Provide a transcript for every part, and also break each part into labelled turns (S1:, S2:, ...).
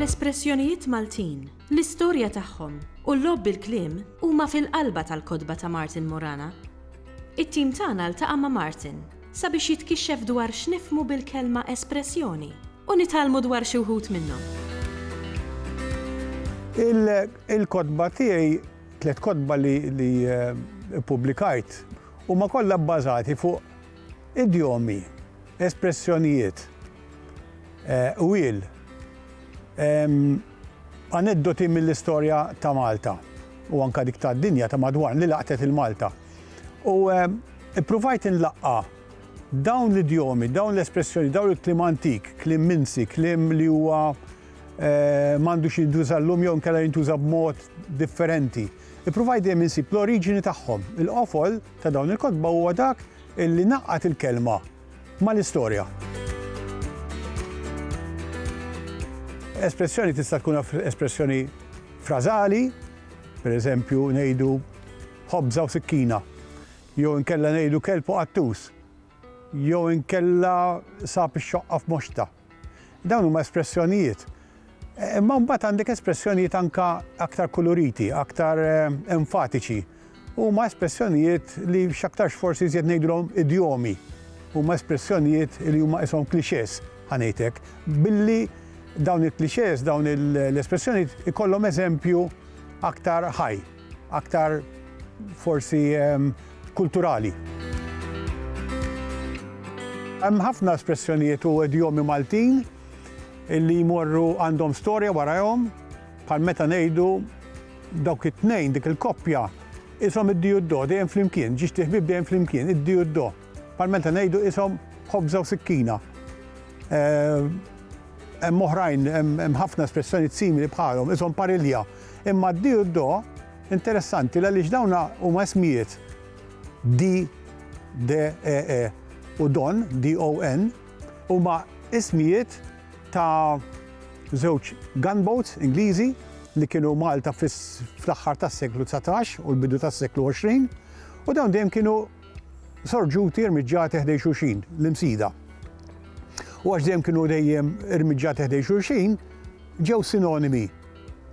S1: L-espressjonijiet Maltin, l-istorja tagħhom u l-logħob bil-kliem huma fil-qalba tal-kotba ta' Martin Morana. It-tim tagħna ltaqa' ma' Martin sabiex jitkixxef dwar x'nifhmu bil-kelma espressjoni u nitgħallmu dwar xi wħud minnhom.
S2: Il-kotba tiegħi, tliet kotba li ppubblikajt, huma kollha bbażati fuq idjomi, espressjonijiet, qwiel, aneddoti mill-istorja ta' Malta u anke dik tad-dinja ta' madwarna li laqtet 'il Malta. U ppruvajt inlaqqa' Dawn l-idjomi, dawn l-espressjoni, dawn il-kliem antik, kliem minsi, kliem li huwa m'għandux jintuża llum jew inkella jintuża b'mod differenti. Ippruvaj dejjem insib l-oriġini tagħhom. Il-qofol ta' dawn il-kotba huwa dak li ngħaqqad il-kelma mal-istorja. Espressjoni tista' tkun espressjoni frażali, pereżempju ngħidu ħobża u sikkina. Jew inkella ngħidu kelb u qattus. Jew inkella sab ix-xoqqa f'moxta. Dawn huma espressjonijiet. Imma mbagħad għandek espressjonijiet anke aktar kuluriti, aktar enfatiċi. Huma espressjonijiet li x'aktarx forsi iżjed ngħidulhom idjomi. Huma espressjonijiet li huma qishom clichés, ħa ngħid hekk, billi dawn il-clichés, dawn l-espressjonijiet ikollhom eżempju aktar ħaj. Aktar forsi ehm, kulturali. Hemm ħafna espressjonijiet u edjomi Maltin illi jmorru għandhom storja warajhom bħal meta ngħidu dawk it-tnejn dik il-koppja isom id-diju d-do dejjem flimkien, ġiex tiħbib dejjem flimkien, id-diju d-do. Bħal meta ngħidu isom ħobża u sikkina. Eh, hemm oħrajn, hemm ħafna espressjoni simili bħalhom, isom parilja. Imma d-Di u d-Do interessanti għaliex dawn huma ismijiet Di, De, E, E, u Don, D-O-N, huma ismijiet ta' żewġ gunboats Ingliżi li kienu Malta fl-aħħar tas-seklu dsatax u l-bidu tas-seklu għoxrin u dawn dejjem kienu sorġuti irmiġġati ħdejn xulxin, l-imsida. U għax dejjem kienu dejjem irmiġġati ħdejn xulxin, ġew sinonimi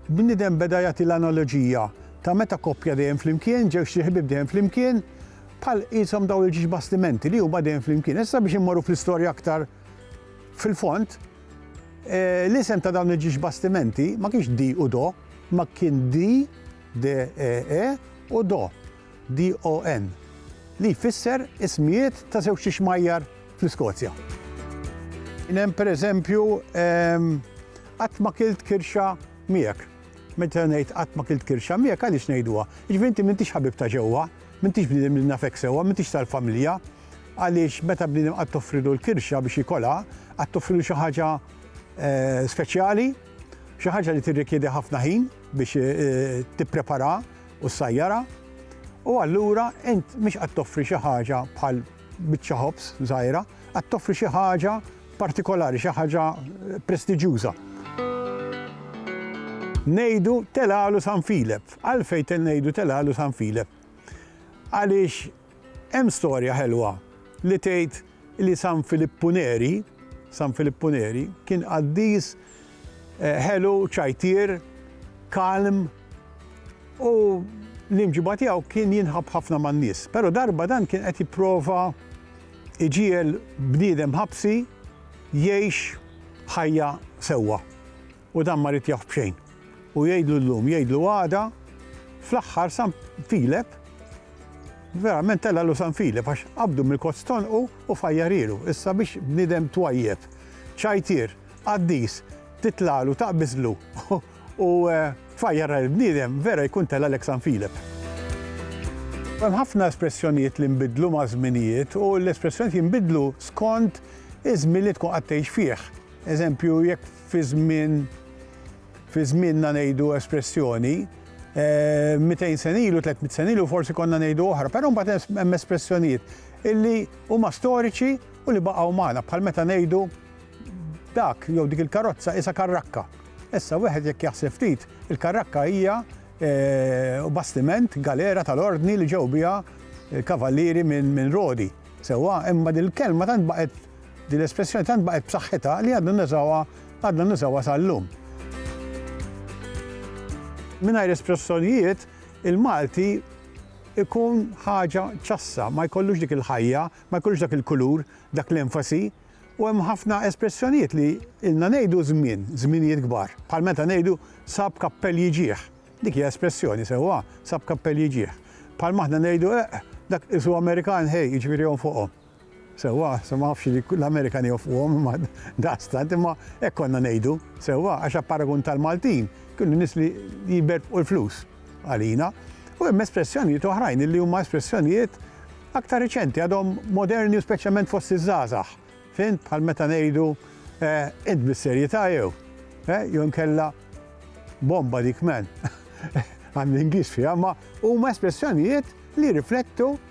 S2: Bniedem beda jagħti l-analoġija ta' meta koppja dejjem flimkien, ġewġt il-ħbieb dejjem flimkien, bħal qishom dawn il-ġiex bastimenti li huma dejjem flimkien. Issa biex immorru fl-istorja aktar fil-fond, l-isem ta' dawn il-ġiex bastimenti ma kienx di u do, imma kien di, de, e, e, u do. DON, li jfisser ismijiet ta' żewġt ixmajjar fl-Iskozja. Kien hemm pereżempju, Qatt ma kilt kirxa miegħek. Meta ngħid qatt ma kilt kirxa miegħek, għaliex ngħiduha? Jiġifieri inti m'intix ħabib ta' ġewwa, m'intix bniedem li nafek sewwa, m'intix tal-familja. Għaliex meta bniedem qatt toffrilu l-kirxa biex jikolha, qatt toffrilu xi ħaġa speċjali, xi ħaġa li tirrikjedi ħafna ħin biex tippreparaha. u ssajjarha, u allura int mhix qed toffri xi ħaġa bħal biċċa ħobż żgħira, qed toffri xi ħaġa partikolari, xi ħaġa prestiġjuża. Ngħidu telgħalu San Filep. Għalfejn ngħidu telgħalu San Filep? Għaliex Hemm storja ħelwa li tgħid li San Filippu Neri, San Filippu Neri, kien qaddis ħelu, ċajtier, kalm u l-imġiba tiegħu kien jinħabb ħafna man-nies. Però darba dan kien qed jipprova iġiegħel bniedem ħabsi jgħix ħajja sewwa. U dan ma ritjah b'xejn. U jgħidlu llum, jgħidlu għada, fl-aħħar San Filep, verament tellgħalu San Filep għax qabdu mill-kotz t'għonqu u fajjarielu. Issa biex bniedem twajjeb, ċajtier, qaddis, titlagħlu, taqbiżlu u tfajjar lill-bniedem, vera jkun tellgħalek San Filep. Hemm ħafna espressjonijiet li nbidlu maż-żminijiet u l-espressjonijiet jinbidlu skont iż-żmien li tkun qed tgħix fih. Eżempju, jekk fi żmien fi żmienna ngħidu espressjoni, 200 eh, sen ilu, 300 sen ilu, forsi konna ngħidu oħra, però mbagħad hemm espressjonijiet illi huma storiċi u li baqgħu magħna bħal meta ngħidu dak jew dik il-karozza isa karrakka. Issa wieħed jekk jaħseb ftit, il-karrakka hija eh, bastiment galera tal-ordni li ġew biha eh, kavallieri minn rodi. Sewa, imma dil-kelma tant baqgħet Din l-espressjoni tant baqgħet b'saħħitha li għadna nużawha għadna nużawha sal-lum. Mingħajr espressjonijiet, il-Malti ikun ħaġa ċassa, ma jkollux dik il-ħajja, ma jkollux dak il-kulur, dak l-enfasi, u hemm ħafna espressjonijiet li ilna ngħidu żmien, żminijiet kbar. Bħal meta ngħidu sab kappell jiġih. Dik hija espressjoni sewwa, sab kappell jiġih. Bħal maħna ngħidu eq, eh, dak isu Amerikan ħej, jiġifieri fuqhom. Sewwa, sa ma nafx li l-Amerikan iwafquhom imma daqstant, imma hekk konna ngħidu, sewwa, għax apparagun tal-Maltin kienu nies li jbertqu l-flus għalina. U hemm espressjonijiet oħrajn illi huma espressjonijiet aktar riċenti, għadhom moderni u speċjalment fost iż-żgħażagħ, fhimt, bħal meta ngħidu int bis-serjetà jew? Jew inkella bomba dik man. Għan l-Ingliż fiha, imma huma espressjonijiet li jirriflettu